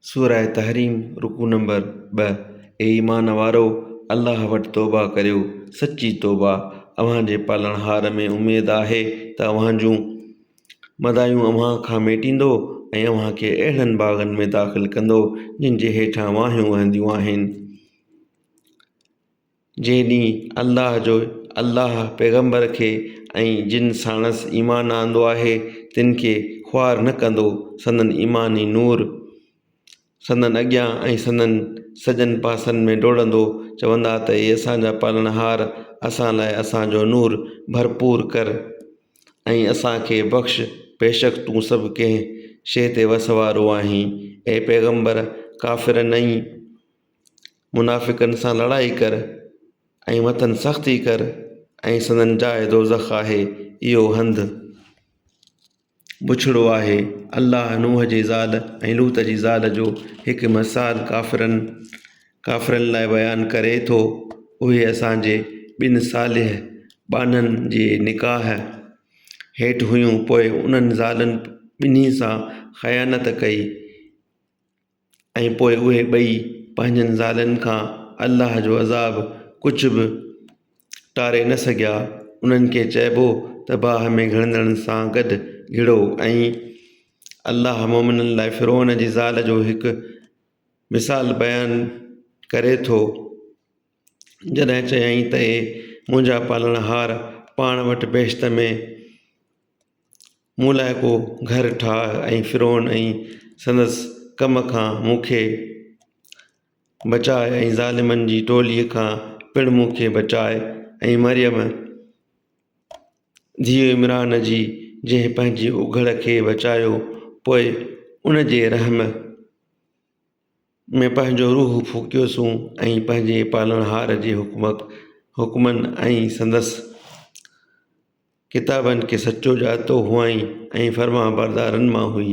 سوره تحريم رڪوع نمبر ٻه، اي ايمان وارؤ! الله وٽ توبهه ڪريو، سچي توبهه، اوهان جي پالڻهار ۾ اميد آهي ته اوهان جون مدايون اوهان کان ميٽيندو ۽ اوهان کي اهڙن باغن ۾ داخل ڪندو جن جي هيٺان واهيون وهنديون آهن. جنهن ڏينهن الله جو الله پيغمبر کي ۽ جن ساڻس ايمان آندو آهي تن کي خوار نه ڪندو، سندن ايمان ئي نور سندن اڳيان ۽ سندن سڄن پاسن ۾ ڊوڙندو، چوندا ته اي اسان جا پالڻهار! اسان لاء اسان جو نور ڀرپور ڪر ۽ اسان کي بخش، بيشڪ تون سڀ ڪنهن شيء تي وس وارو آهين، اي پيغمبر! ڪافرن ۽. منافقن سان لڙائي ڪر ۽ مٿن سختي ڪر ۽ سندن جاء دوزخ آهي اهو هنڌ بڇڙو آهي. الله نوح جي زال ۽ لوط جي زال جو هڪ مثال ڪافرن، Kafirin، لاء بيان ڪري ٿو. اهي اسان جي ٻن صالح ٻانهن جي نڪاح هيٺ هيون پوء انهن زالن ٻنهي سان خيانت ڪئي. ۽ پوء اهي ٻئي پنهنجن زالن کان الله جو عذاب ڪجهه به ٽاري نه سگهيا، انهن کي چئبو ته باهه ۾ گهڙندڙن سان گڏ گهڙو ۽ الله مؤمنن لاء فرعون جي زال جو هڪ مثال بيان ڪري ٿو جڏهن چيائين ته اي منهنجا پالڻهار پاڻ وٽ بهشت ۾، مون لاء ڪو گهر ٺاهه ۽ فرعون ۽ سندس قوم کان مون کي بچاء ۽ ظالمن جي ٽوليء کان پڻ مون کي بچاء ۽ مريم ڌيء عمران جي جنهن پنهنجي اگهڙ کي بچايو پوء ان جي رحم ۾ پنهنجو روح ڦوڪيوسون ۽ پنهنجي پالڻهار جي حڪمن ۽ سندس ڪتابن کي سچو ڄاتو هئائين ۽ فرمانبردارن مان هئي